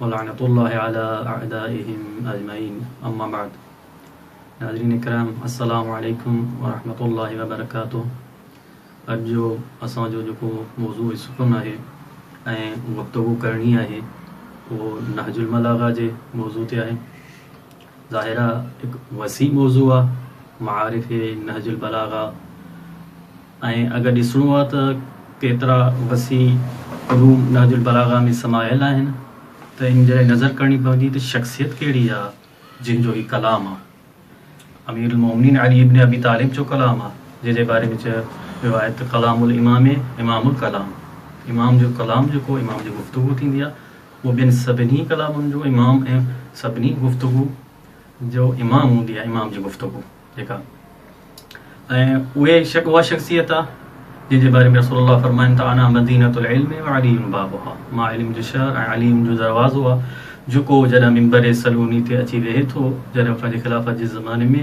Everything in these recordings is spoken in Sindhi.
ولعنت الله علي اعدائهم اجمعين اما بعد ناظرين ڪرام السلام عليڪم ورحمة الله وبرڪاته اڄ جو اسان جو جيڪو موضوع سخن آهي ۽ گفتگو ڪرڻي آهي اهو نهج الملاغه جي موضوع تي آهي ظاهر آ هڪ وسيع موضوع آ معارف نهج البلاغه ۽ اگر ڏسڻو آ ته ڪيترا وسيع علوم نهج البلاغه ۾ سمايل آهن ته ان جي لاء نظر ڪرڻي پوندي ته شخصيت ڪهڙي آ جنهن جو هي ڪلام آ امير المومنين علي ابن ابي طالب جو ڪلام آ جنهن جي باري ۾ چيو ويو آهي ته ڪلام الامام امام الڪلام امام جو ڪلام جيڪو امام جي گفتگو ٿيندي آ هوء ٻين سڀني ڪلامن جو امام ۽ سڀني گفتگو جو امام هوندي آهي، امام جي گفتگو جيڪا ۽ اهي اها شخصيت آهي جنهن جي باري ۾ رسول الله فرمائن ته انا مدينة العلم وعلي بابها، مان علم جو شهر ۽ علي علم جو دروازو آهي، جيڪو جڏهن منبر صلوني تي اچي ويهي ٿو، جڏهن پنهنجي خلافت جي زماني ۾،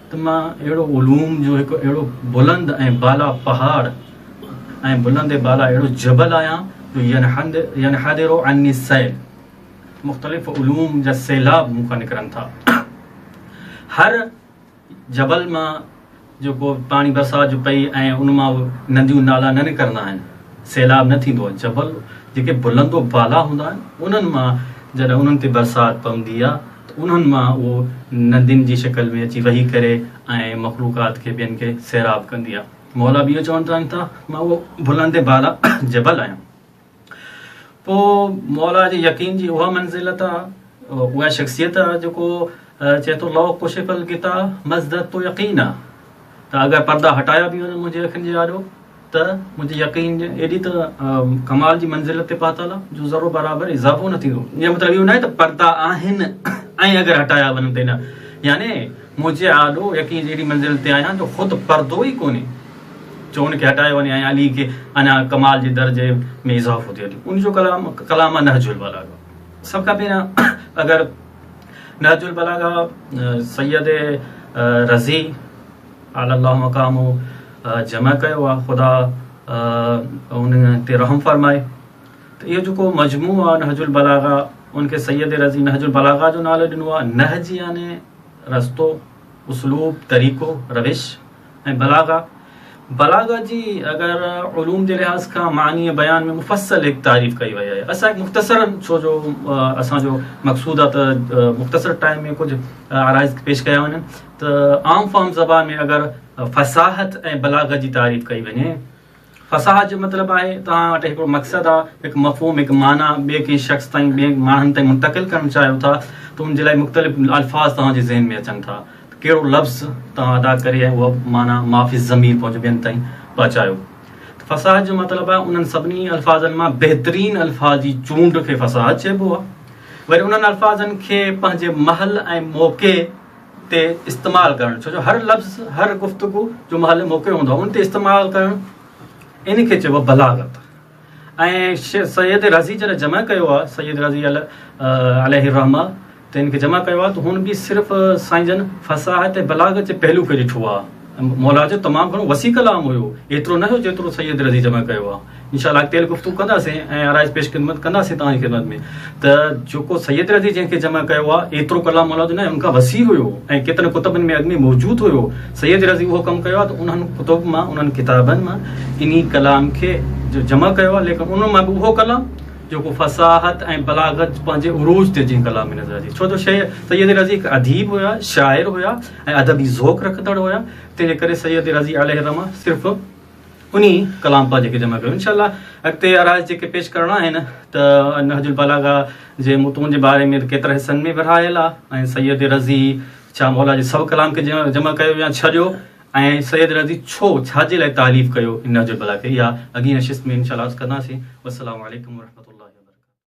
ته مان اهڙو علوم جو هڪ اهڙو بلند ۽ بالا پهاڙ ۽ بلند ۽ بالا اهڙو جبل آهيان جو ينحدر عني السيل مختلف علوم جا سيلاب مون کان نڪرن ٿا هر جبل مان جيڪو پاڻي برسات جو پئي ۽ ان مان نديون نالا نه نڪرندا آهن سيلاب نه ٿيندو جبل جيڪي بلند و بالا هوندا آهن انهن مان جڏهن انهن تي برسات پوندي آهي انهن مان اهو ندين جي شڪل ۾ اچي وهي ڪري ۽ مخلوقات کي ٻين کي سيراب ڪندي آهي. مولا به اهو چون ٿا ته مان اهو بلند بالا جبل آهيان. پوء مولا جي يقين جي اها منزلت آهي، اها شخصيت آهي جيڪو چئي ٿو لو ڪشف الغطاء مازددت يقينا ته اگر پردا هٽايا به وڃن منهنجي اکين جي آڏو، ته منهنجي يقين ايڏي ته ڪمال جي منزل تي پهتل آ جو ذرو برابر اضافو نه ٿيندو ان جو مطلب اهو ناهي ته پردا آهن ۽ اگر هٽايا وڃن ته نه يعني منهنجي آڏو يقين جي ايڏي منزل تي آهيان جو خود پردو ئي ڪونهي جو ان کي هٽايو وڃي ۽ علي کي اڃا ڪمال جي درجي ۾ اضافو ٿيو ٿي ان جو ڪلام ڪلام نهج البلاغه سڀ کان پهريان اگر نهج البلاغه سيد رضي اعلي الله مقام هو جمع ڪيو آ خدا ان تي رحم فرمائي ته اهو جيڪو مجموع آ نهج البلاغا ان کي سيد رضي نهج البلاغا جو نالو ڏنو آ نهج يعني رستو اسلوب طريقو روش ۽ بلاغا بلاغا جي اگر علوم جي لحاظ کان معني بيان ۾ مفصل هڪ تعريف ڪئي وئي آهي اسان مختصر ڇو جو اسان جو مقصود آ ته مختصر ٽائم ۾ ڪجهه آرائز پيش ڪيا وڃن ته عام فهم زبان ۾ اگر فصاحت ۽ بلاغت جي تعريف ڪئي وڃي فصاحت جو مطلب آهي توهان وٽ هڪڙو مقصد آ هڪ مفهوم هڪ معنيٰ ٻئي ڪنهن شخص تائين ٻئي ماڻهن تائين منتقل ڪرڻ چاهيو ٿا ته ان جي لاء مختلف الفاظ توهان جي ذهن ۾ اچن ٿا ته ڪهڙو لفظ توهان ادا ڪري ۽ اها معنيٰ معافي الضمير پنهنجو ٻين تائين پهچايو ته فصاحت جو مطلب آهي انهن سڀني الفاظن مان بهترين الفاظ جي چونڊ کي فصاحت چئبو آهي وري انهن الفاظن کي پنهنجي محل ۽ موقعي تي استعمال ڪرڻ ڇو جو هر لفظ هر گفتگو جو محل موقع هوندو آهي ان تي استعمال ڪرڻ ان کي چئبو بلاغت ۽ سيد رضي جڏهن جمع ڪيو آهي سيد رضي عليه الرحمه ته ان کي جمع ڪيو آهي ته هن به صرف سائين جن فصاحت ۽ بلاغت جي پهلو کي ڏٺو آهي مولا جو تمام گهڻو وسيع ڪلام هيو ايترو نه هيو جيترو سيد رضي جمع ڪيو آهي انشاء الله اڳتي هلي گفتگو ڪنداسين ۽ آرائش پيش خدمت ڪنداسين توهان جي خدمت ۾ ته جيڪو سيد رضي جنهن کي جمع ڪيو آ ايترو ڪلام مولا جو نه ان کان وسيع هيو ۽ ڪيترن ڪتبن ۾ اڳ ۾ موجود هيو سيد رضي اهو ڪم ڪيو آ ته انهن ڪتب مان انهن ڪتابن مان انهي ڪلام کي جمع ڪيو آ ليڪن انهن مان به اهو ڪلام جيڪو فصاحت ۽ بلاغت پنهنجي عروج تي جنهن ڪلام ۾ نظر اچي ڇو جو شيء سيد رضي هڪ اديب هيا شاعر هيا ۽ ادبي ذوق رکندڙ هيا تنهن جي ڪري سيد رضي عليه الرحمه صرف انهي ڪلام پاڪ جيڪي جمع ڪيو انشاء الله اڳتي آرائج جيڪي پيش ڪرڻا آهن ته نهج البلاغه جي متون جي باري ۾ ڪيترا حصن ۾ ورهايل آ ۽ سيد رضي شاهه مولا جي سو ڪلام کي جمع ڪيو يا ڇڏيو ۽ سيد رضي ڇو ڇاجي لاء تاليف ڪيو نهج البلاغه کي اها اڳين نشست ۾ انشاء الله عرض ڪنداسين والسلام عليڪم ورحمة الله وبرڪاته.